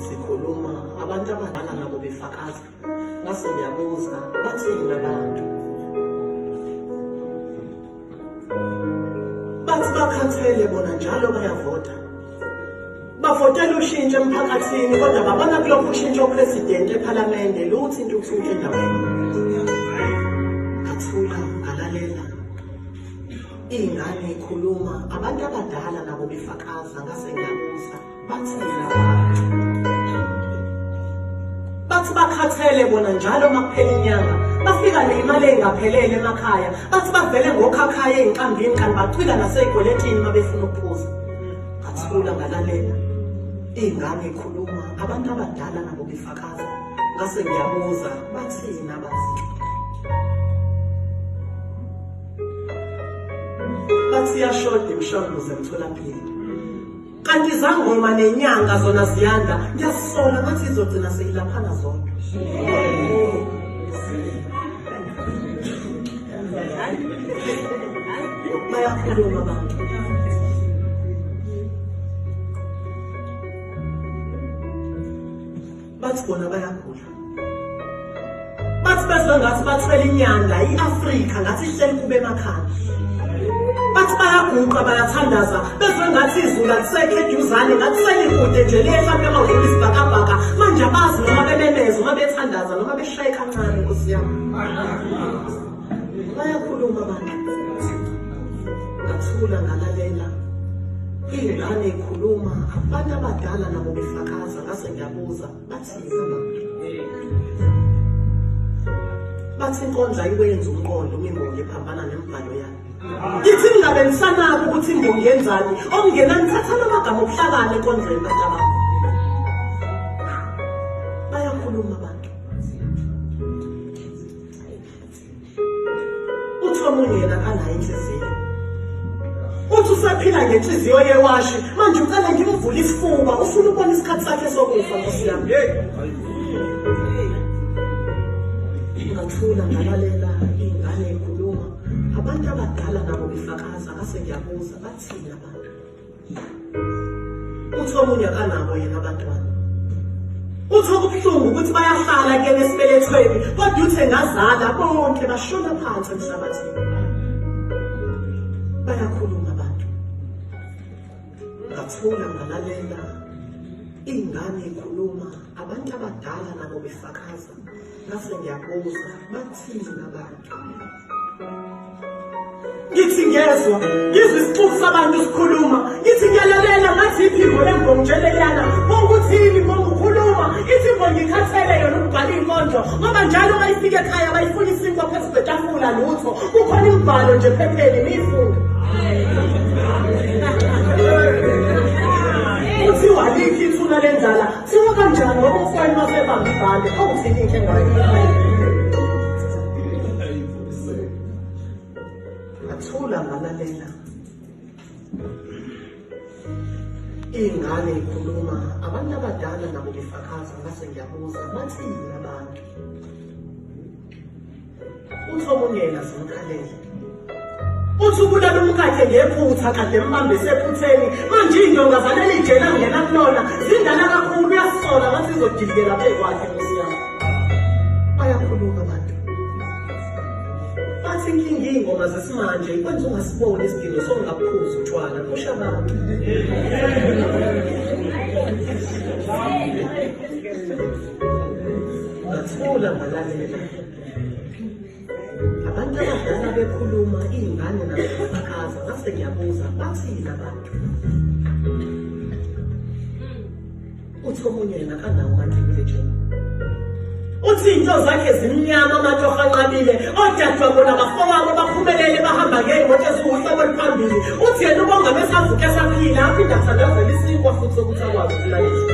sikhuluma abantu abadala nabo befakaza ngase ngiyabuza bathini labantu bathi bakhathele bona njalo bayavota bavotela ushintsho emphakathini kodwa babona kulokhu ushintsho upresidenti ephalamende luthi into ukushintsha endaweni ngathula ngalalela iy'ngane ikhuluma abantu abadala nabo befakaza ngase ngiyabuza bathi bakhathele bona njalo uma kuphela inyanga bafika neyimali engaphelele emakhaya bathi bavele ngokhakhaya ey'nqambini kanti bacwila nasey'kweletini uma befuna ukuphuza ngathula ngalalela iy'ngane ikhuluma abantu abadala nabo befakaza ngase ngiyabuza bathini abazi bathi iyashoda imishanguzo emtholampilo kanti izangoma nenyanga zona ziyanda ngiyasola ngathi izogcina seyilaphana zodwa bayakhuluma abantu bathi bona bayagula bathi bazwa ngathi bathwele inyanga i-afrika ngathi ihleli kube emakhaya bathi bayaguqa bayathandaza bezwe ngathi izulu alisekho eduzane ngathi selikude nje liyehlampe amawula isibhakabhaka manje abazi noma bememeza uma bethandaza noma beshaye kancane nkosi yami bayakhuluma abantu ngathula ngalalela iy'ngane y'khuluma abantu abadala nabo befakaza ngase ngiyabuza bathini bathi inkonja ikwenza umqondo imimbongi ephambana nemibhalo yayo ngithi ningabensanabo ukuthi imbongi yenzani okungena nithathana amagama okuhlakana enkondlweni bantu abantu uthi omunye yena anayo inhliziyo uthi usaphila ngenhliziyo yewashi manje ucela ngimvule isifuba ufuna ukubona isikhathi sakhe sokufa nkosi yami ngathula ngalalela iy'ngane y'khuluma abantu abadala nabo befakaza ngase ngiyabuza bathini abantu uthi omunye akanabo yena abantwana uthi okubuhlungu ukuthi bayahlala kuyena esibelethweni kodwa uthe ngazala bonke bashona phansi emhlabathini bayakhuluma abantu ngathula ngalalela ingane ikhuluma abantu abadala nabo befakaza ngase ngiyabuza bathini abantu ngithi ngezwa ngizwa isixuku sabantu sikhuluma ngithi ngiyalalela ngathi iphimbo lembongo nje leliyana bonguthini mbongo ukhuluma iphimbo ngikhathele yona ukubhala iy'nkondlo ngoba njalo uma ifika ekhaya bayifuna isinkwa phezu kwetafula lutho kukhona imibhalo nje phepheni niyifunde kuthiwa likhi ithuna lendlala Siwakha njani ngoba ufana uma sebamba ibhande awuthini into engayo. Athula ngalalela. Ingane ikhuluma abantu abadala nabo befakaza ngase ngiyabuza bathini abantu. uhlobongela zimkhalele uthi ubulala umkakhe ngephutha kade mbambe sephutheni manje iy'ndonga zaleli jela ngena kulona zindala kakhulu uyasola ngathi izodidikela bekwakhe nkosi yami bayakhuluma abantu bathi inkinga iy'ngoma zesimanje ikwenza ungasiboni isidingo sokungaphuzi utshwala kusho abantu ngathula ngalalela abantu abadala bekhuluma iy'ngane nabafakaza ngase ngiyabuza bathini abantu uthi omunye yena kanawo matriculation uthi into zakhe zimnyama abantu abanqabile odadewabo nabafowabo baphumelele bahamba ngey'moto eziwuhlobo oluphambili uthi yena ubonga besavuke esaphila aphinde athandazela isinkwa futhi sokuthi akwazi ukulayisa